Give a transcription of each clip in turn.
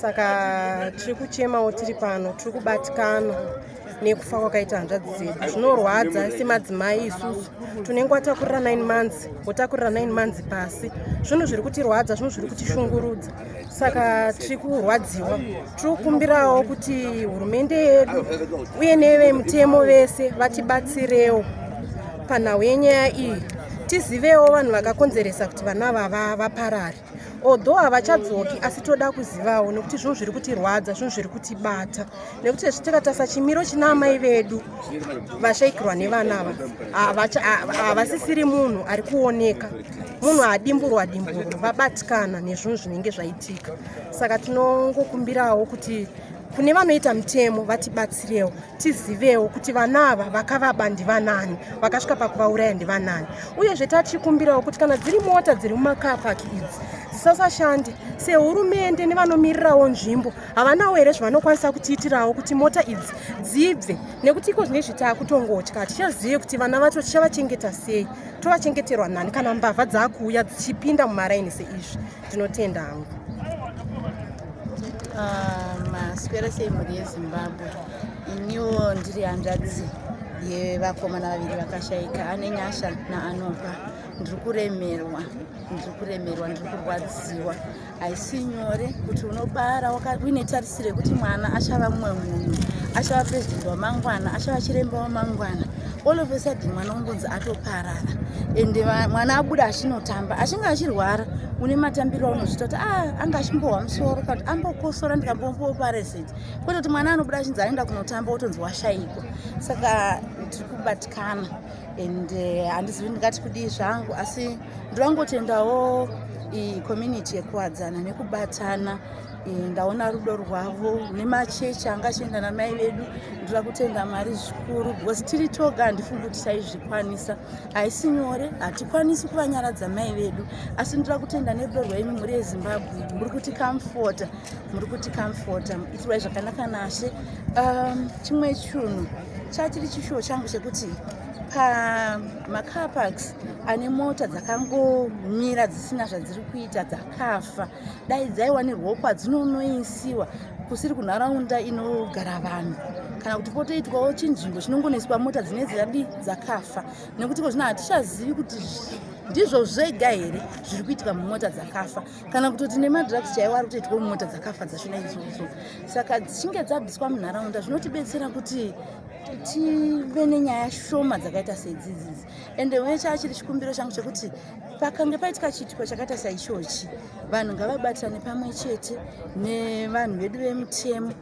saka tiri kuchemawo tiri pano tiri kubatikana nekufa kwakaita hanzvadzi dzedu zvinorwadza semadzimai isusu tunenge watakurira 9 months wotakurira 9 months pasi zvinhu zviri kutirwadza zvinhu zviri kutishungurudza saka tiri kurwadziwa tiri kukumbirawo kuti hurumende yedu uye nevemutemo vese vatibatsirewo panhau yenyaya iyi tizivewo vanhu vakakonzeresa kuti vana vava vaparare although havachadzoki asi toda kuzivawo nekuti zvinhu zviri kutirwadza zvinhu zviri kutibata nekuti hezvi tikatarisa chimiro china amai vedu vashaikirwa nevana ava havasisiri munhu ari kuoneka munhu adimburwa dimburwa vabatikana nezvinhu zvinenge zvaitika saka tinongokumbirawo kuti kune vanoita mutemo vatibatsirewo tizivewo kuti vana ava vakavaba ndivanani vakasvika pakuvauraya ndivanani uyezve tachikumbirawo kuti kana dziri mota dziri mumakapaki idzi dzisasashande sehurumende nevanomirirawo nzvimbo havanawo here zvavanokwanisa kutiitirawo kuti mota idzi dzibve nekuti iko zvine zvitaa kutongotya hatichazive kuti vana vacho tichavachengeta sei tovachengeterwa nani kana mbavha dzaakuuya dzichipinda mumaraini seizvi Tinotenda hangu. Ah, maswera sei mhuri yezimbabwe iniwo ndiri hanzvadzi yevakomana vaviri vakashaika ane nyasha naanopa ndiri kuremerwa ndiri kuremerwa ndiri kurwadziwa haisi nyore kuti unobara uine tarisiro yekuti mwana achava mumwe munhu achava purezidenti wamangwana achava chiremba wamangwana all of a sudden mwana ungonzi atoparara and mwana abuda achinotamba achinge achirwara une matambiro aunozvita kuti ah, anga achimbohwa musoro kana kuti ambokosora ndikambombopareseti kwete kuti mwana anobuda achinzi aenda kunotamba wotonzi washaikwa saka tiri kubatikana and eh, handizivi uh, ndingati kudii zvangu asi ndovangotendawo icommunity yekuwadzana nekubatana Eh, ndaona rudo rwavo nemachechi anga achienda namai vedu ndoda kutenda mwari zvikuru because tiri toga handifungi kuti taizvikwanisa haisi nyore hatikwanisi kuvanyaradza mai vedu asi ndoda kutenda nerudo rwenyu mhuri yezimbabwe muri kuti kamfota muri kuti kamfota itirai zvakanaka nashe um, chimwe chunhu chachiri chishuwo changu chekuti pamacarparks ane mota dzakangomira dzisina zvadziri kuita dzakafa dai dzaiwanirwawo kwadzinonoisiwa kusiri kunharaunda inogara vanhu kana kuti potoitwawo chinzvimbo chinongonoiswa mota dzine dzadi dzakafa nekuti ko zvino hatichazivi kuti ndizvo zvega here zviri kuitika mumota dzakafa kana kutoti nemadrugs chaiwo ari kutoitwa mumota dzakafa dzashona idzodzo saka dzichinge dzabviswa munharaunda zvinotibetsera kuti tive nenyaya shoma dzakaita seidzidzidzi ende wechachiri chikumbiro changu chekuti pakange paitika chiitiko chakaita saichochi vanhu ngavabatirane pamwe chete nevanhu vedu vemutemo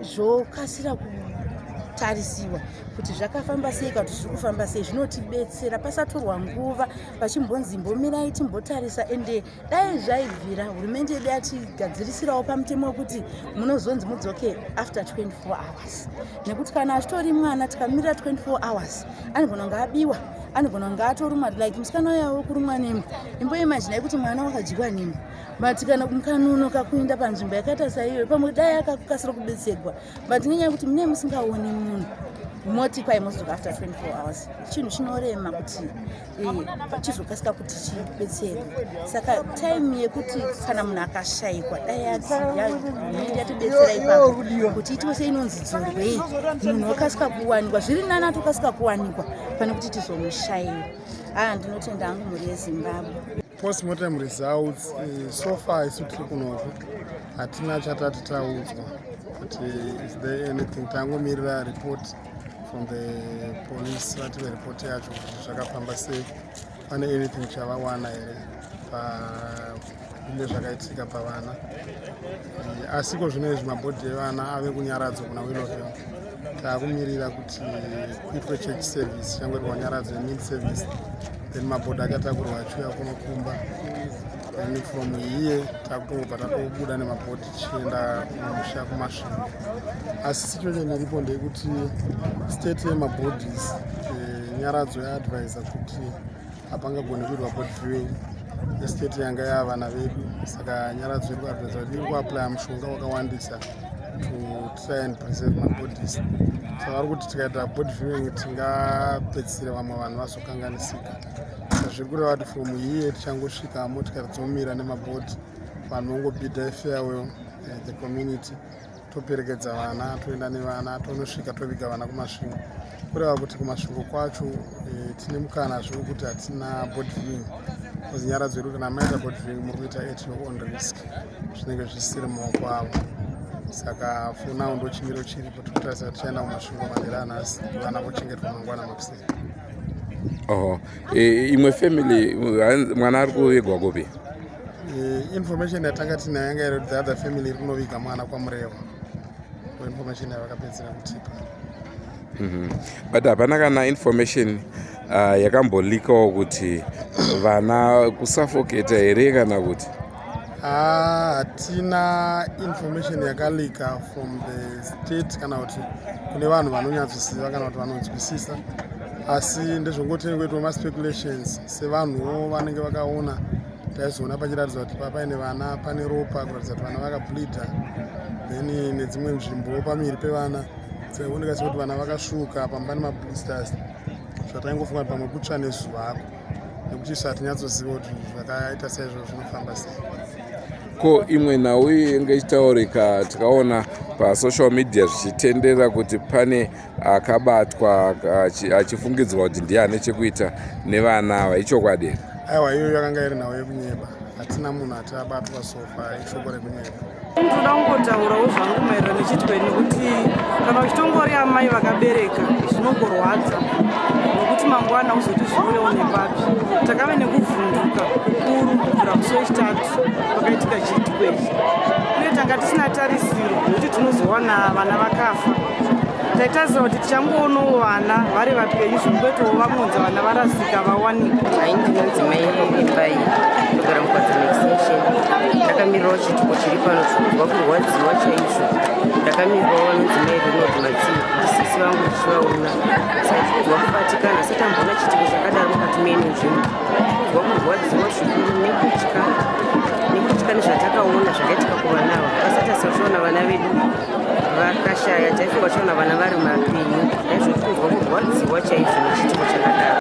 zvokasira kutarisiwa kuti zvakafamba sei kana kuti zviri kufamba sei zvinotibetsera pasatorwa nguva pachimbonzi imbomirai timbotarisa ende dai zvaibvira hurumende yedu yatigadzirisirawo pamutemo wekuti munozonzi mudzoke after 24 hours nekuti kana achitori mwana tikamirira 24 hours anogona kunge abiwa anogona kunge atorumwa like musikana uya wekurumwa nemwe imbo imaginai kuti mwana wakadyiwa nemwe but kana mukanunoka kuenda panzvimbo yakaita saiyoyo pamwe dai akakasira kubetserwa but nenyaya yekuti mune musingaoni munhu moti kwai mozoka after 24 hours chinhu chinorema kuti eh, chizokasika kuti chibetserwe saka time yekuti kana munhu akashayikwa dai ati yaende yatibetsera ipapo kuti itiwe seinonzi dzurwei munhu okasika kuwanikwa zviri nani atokasika kuwanikwa pane kuti tizomushaira haa ndinotenda hangu mhuri yezimbabwe postmortem results eh, so far isu tiri kunoko hatina chatati taudzwa kuti is there anything tangomirira report from the police vati vereport yacho kuti zvakafamba sei pane anything chavawana here pakunge zvakaitika pavana eh, asi ko zvino izvi mabhodhi evana ave kunyaradzwa kuna willowhill taakumirira kuti kuitwe church service changwe rwanyaradzo yemid service then mabhodhi akatakurwa achiuya kunokumba then from here takutobva tatobuda nemabhodhi tichienda kumusha kumasvingo asi situation iripo ndeyekuti state yemabodies eh, nyaradzo yaadvisa kuti hapangagoni kuitwa body viewing estate yanga yavana vedu saka nyaradzo iri kuadvisa kuti iri kuaplya mushonga wakawandisa to try and preserve mabodies saka vari kuti tikaita body viewing tingapedzisire vamwe vanhu vazokanganisika zviri kureva kuti from here tichangosvika motikari dzomira nemabodi vanhu vongobida ifeawe uh, eh, the community toperekedza vana toenda nevana tonosvika toviga vana kumasvingo kureva kuti kumasvingo kwacho eh, tine mukana zviri kuti hatina bodving bcause nyara dzedu kana maita bodving muri kuita at your own risk zvinenge zvisiri maoko avo saka fonawo ndo chimiro chiripo tikutarisa tichaenda kumasvingo manhiri anhasi vana vochengetwa mangwana makusei oho e, imwe family mwana ari kuvigwa kupi Eh, information yatanga tinayo yanga iri kuti the other family rinoviga mwana kwamurewa information yavakapedzera kutipa mhm. but hapana kana information uh, yakambolikawo kuti vana kusafoketa here kana kuti ah, hatina uh, information yakalika from the state kana kuti kune vanhu vanonyatsoziva kana kuti vanonzwisisa asi ndezvongotinenge kuitwa maspeculations sevanhuwo vanenge vakaona taizoona pachiratidzwa kuti papaine vana pane ropa kuratidza kuti vana vakableeder then nedzimwe nzvimbowo pamiri pevana tsaioneka sekuti vana vakasvuka pamba nemablisters zvataingofunga kuti pamwe kutsva nezuva ako nekuti isu hatinyatsoziva kuti zvakaita seizvo zvinofamba sei ko imwe nhau yenge ichitaurika tikaona pasocial media zvichitendera kuti pane akabatwa achifungidzwa kuti ndiye ane chekuita nevana ava ichokwadi here aiwa iyoyo yakanga iri nhau yekunyeba hatina munhu ati abatwa sofa ishoko rekunyeba ndoda kungotaurawo zvangu maererano nechitwa nekuti kana uchitongori amai vakabereka zvinogorwadza nokuti mangwana uzoti zviurewo nepapi takave nekuvhunduka kukuru kubvira musi wechitatu pakaitika chitwa ichi uye tanga tisina tarisiro nekuti tinozowana vana vakafa taitarisira kuti tichangoonawo vana vari vapenyu zvinotoitawo vamunzi vana varasika vawanika hai ndinonzi mai imba iyi ndogara mukwadzana extension ndakamirirawo chituko chiri pano chikunzwa kurwadziwa chaizvo ndakamirirawo vanonzi mai rinod matsi ndisisi vangu ndichivaona saikunzwa kubatikana satambona chituko chakadaro mukati meni nzvimbo kunzwa kurwadziwa zvikuru nekutya nekutya nezvatakaona zvakaitika kuvana ava asati asazviona vana vedu vakashaya chaifo vachiona vana vari mapinyu aizvotinzwa kurwadziwa chaizvo nechitiko chakadaro